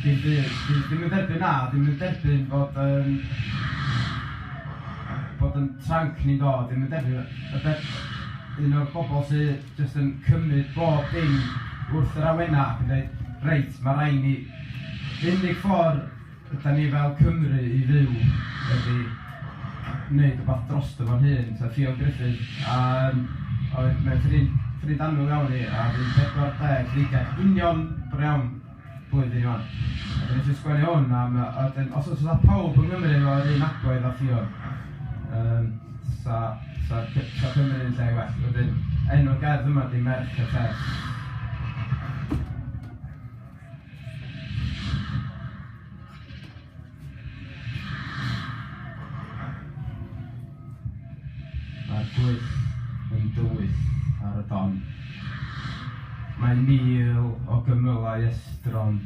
Dim byd. Dwi ddim yn derbyn, na, dwi ddim yn derbyn bod yym bod yn tranc ni'n dod, dwi ddim yn derbyn y be- un o'r bobl sy jyst yn cymryd bob dim wrth yr awenau ac yn dweud 'reit, ma' raid ni'... Yr unig ffordd Ydan ni fel Cymru i fyw wedi neud wbath drosto fo'n hun? Ta Ffion Gruffydd a yym oedd mae'n ffrind ffrind annwyl iawn i a fydd 40 dreigiau union bore iawn blwyddyn i wan. A dan ni eisiau sgwennu hwn am yy a wedyn os oes fatha pawb yng Nghymru efo yr un agwedd a Ffion yym sa sa Cy- sa Cymru yn lle well. Wedyn enw'r gerdd yma ydy Merch y Lles. Mae'r gwŷth yn dywyll ar y don. Mae mil o gymylau estron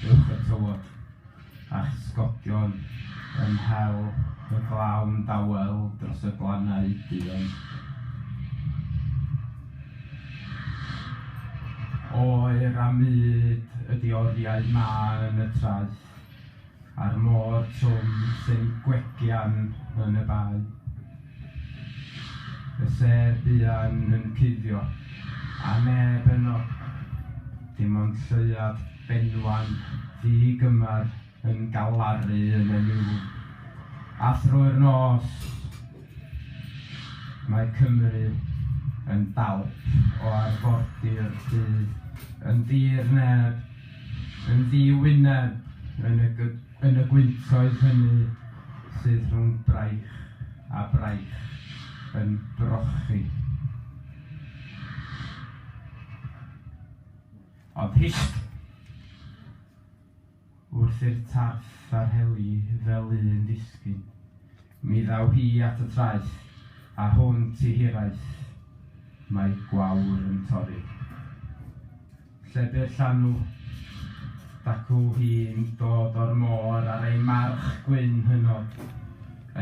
uwch y tywod. a'ch sgodion yn hel y glawn dawel dros y glannau duon. Oer a mud ydi oriau mân y traeth, a'r môr trwm sy'n gwegian yn y bae. Y sêr buan yn cuddio, a neb yno, dim ond lleuad Benwan ddu gymar yn galaru yn y niwl, a thrwy'r nos mae Cymru yn dalp o arfordir du, yn ddir neb, yn ddi wyneb yn y gw- yn y gwyntoedd hynny sydd rhwng braich a braich yn brochi. Ond hist! Wrth i'r tarth a rheli fel un disgyn, mi ddaw hi at y traeth, a hwnt i hiraeth, mae gwawr yn torri. Lle bu'r llanw? Dacw hi'n dod o'r môr ar ei march gwyn hynod,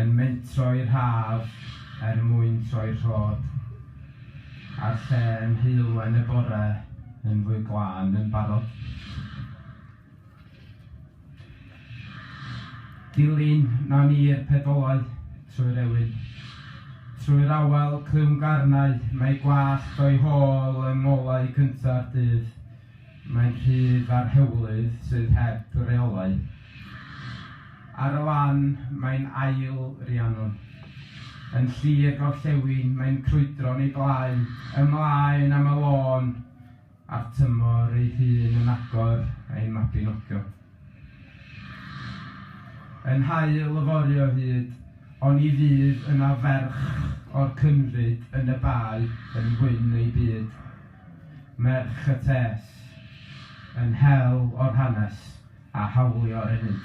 yn mentro i'r haf er mwyn troi'r rhod. A'r lle yn heulwen y bore yn fwy glân yn barod. Dilyn na ni i'r pedolau trwy'r ewyn. Trwy'r awel clywngarnau mae gwallt o'i hôl yng ngolau cynta'r dydd. Mae'n rhydd ar hewlydd sydd heb reolau. Ar y lan, mae'n ail Rhiannon. Yn llu i'r gorllewin, mae'n crwydro'n ei blaen, ymlaen am y lôn, a'r tymor ei hun yn agor ein mabinogion. Yn haul yfory o hyd, oni fydd yna ferch o'r Cynfyd yn y Bae yn wyn ei byd. Merch y Tes, yn hel o'r hanes a hawlio enid.